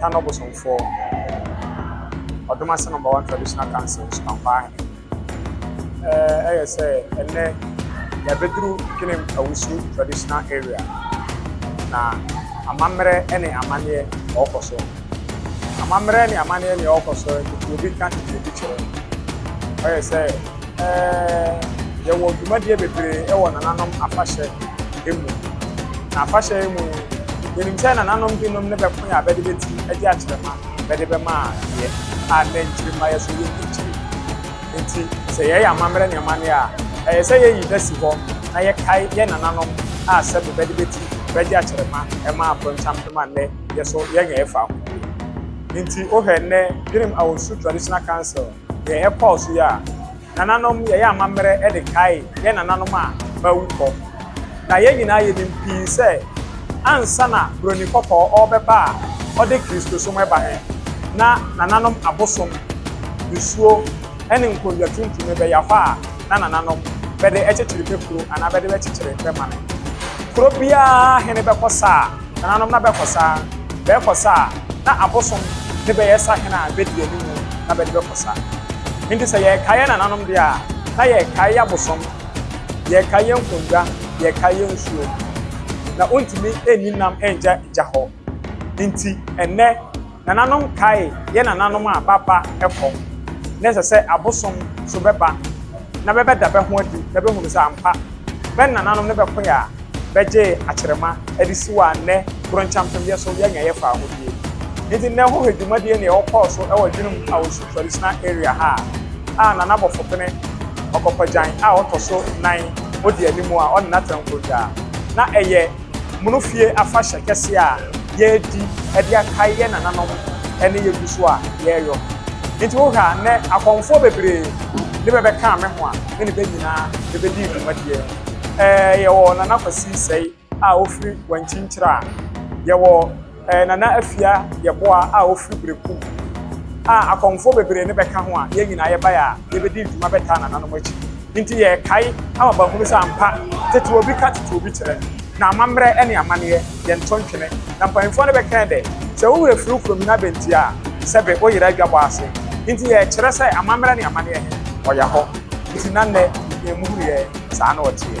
Tan no bosomfoɔ ɔdom ase number one traditional council Nsupankwaa hene. Ɛyɛ sɛ ɛnnɛ yɛabɛduru Kinem Awusu traditional area na amammerɛ ne amanneɛ ɔɔkɔ so. Amammerɛ ne amanneɛ nea ɔɔkɔ so nti obi ka tete bi kyerɛ. Ɔyɛ sɛ. Ɛɛ, yɛwɔ dwumadie bebree wɔ nananom afahyɛ mu. Na afahyɛ yi mu no, yɛnim sɛ nananom binom ne bɛko yɛ a bɛde bɛti de akyerɛma bɛde bɛma adeɛ a nnɛ nkyirimma yɛ so yɛ nkyirikyiri. Enti sɛ yɛreyɛ amammerɛ ne amanneɛ a, ɛyɛ sɛ yɛyi da si hɔ na yɛkae yɛn nananom a sɛbe bɛde bɛti bɛde akyerɛma ɛma akorɔnkyɛmpem a nnɛ yɛ so yɛnyɛ ɛfa ho bio. Enti wohwɛ nnɛ Birim Awɔsu Traditional Council Deɛ ɛkɔɔ so yi a, nananom yɛyɛ amammerɛ de kae yɛn nananom a wɔawu kɔ. Na yɛn nyinaa yɛnim pii sɛ ansa na Buroni Kɔkɔɔ ɔrebɛba a ɔde Kristosom reba he, na nananom abosom, nsuo, ne nkondwa tuntum bɛya hɔ a na nananom bɛde kyekyere bɛ kuro anaa bɛde bɛkyekyere bɛ mane. Kuro biara hene bɛkɔ saa. Nananom na bɛkɔ sa, bɛɛkɔ sa a, na abosom ne bɛyɛ sahene a bedi yɛn anim na bɛde bɛkɔ sa. Enti sɛ yɛrekae yɛn nananom deɛ a, na yɛrekae yɛn abosom, yɛrekae yɛn nkonnwa, yɛrekae yɛn nsuo. Na wontumi nni nam nngya gya hɔ. Enti ɛnnɛ. Nananom kae yɛn nananom a bɛaba kɔ na ɛsɛ sɛ abosom so bɛba na bɛbɛda bɛ ho adi na bɛhunu sɛ ampa bɛ nananom ne bɛkoe a bɛgyee akyerema de siw a nnɛ Goronkyampemyɛ so yɛanya yɛfa ahodie nti nnɛ hohwɛ dwumadie nea ɔkɔɔ so wɔ Adwenem Awosu Traditional Area ha a Nana Bɔfopene Ɔkɔkɔgyan a ɔtɔ so nan odi anim a ɔne Nattenkroja na ɛyɛ Mono fie afahyɛ kɛseɛ a yɛredi de akae yɛn nananom ne yɛgu so a yɛreyɔ. Nti wohwɛ a nnɛ akɔmfoɔ bebree ne bɛbɛkaa me ho a me ne bɛ nyinaa bɛbɛdii dwumadie no. Ɛɛ yɛwɔ Nana Kwasi Sɛi a ɔfiri Wankyinkyira. Yɛwɔ. Ɛɛ Nana Afia Yeboah a ɔfiri Berekum a akɔmfoɔ bebree no bɛka ho a yɛn nyinaa yɛbaeɛ a yɛbɛdi dwuma bɛtaa nananom akyi nti yɛrekae ama bɛahunu sɛ ampa tete obi ka tete obi kyerɛ na amammerɛ ne amanneɛ yɛnto ntwene na mpanyimfoɔ no bɛkae dɛ sɛ wo werɛ firi wo kurom na bɛnti a sɛbe wo yera adwabɔ ase nti yɛrekyerɛ sɛ amammerɛ ne amanneɛ he ɔya hɔ nti na nnɛ yɛn mu hunu yɛn saa na ɔteɛ.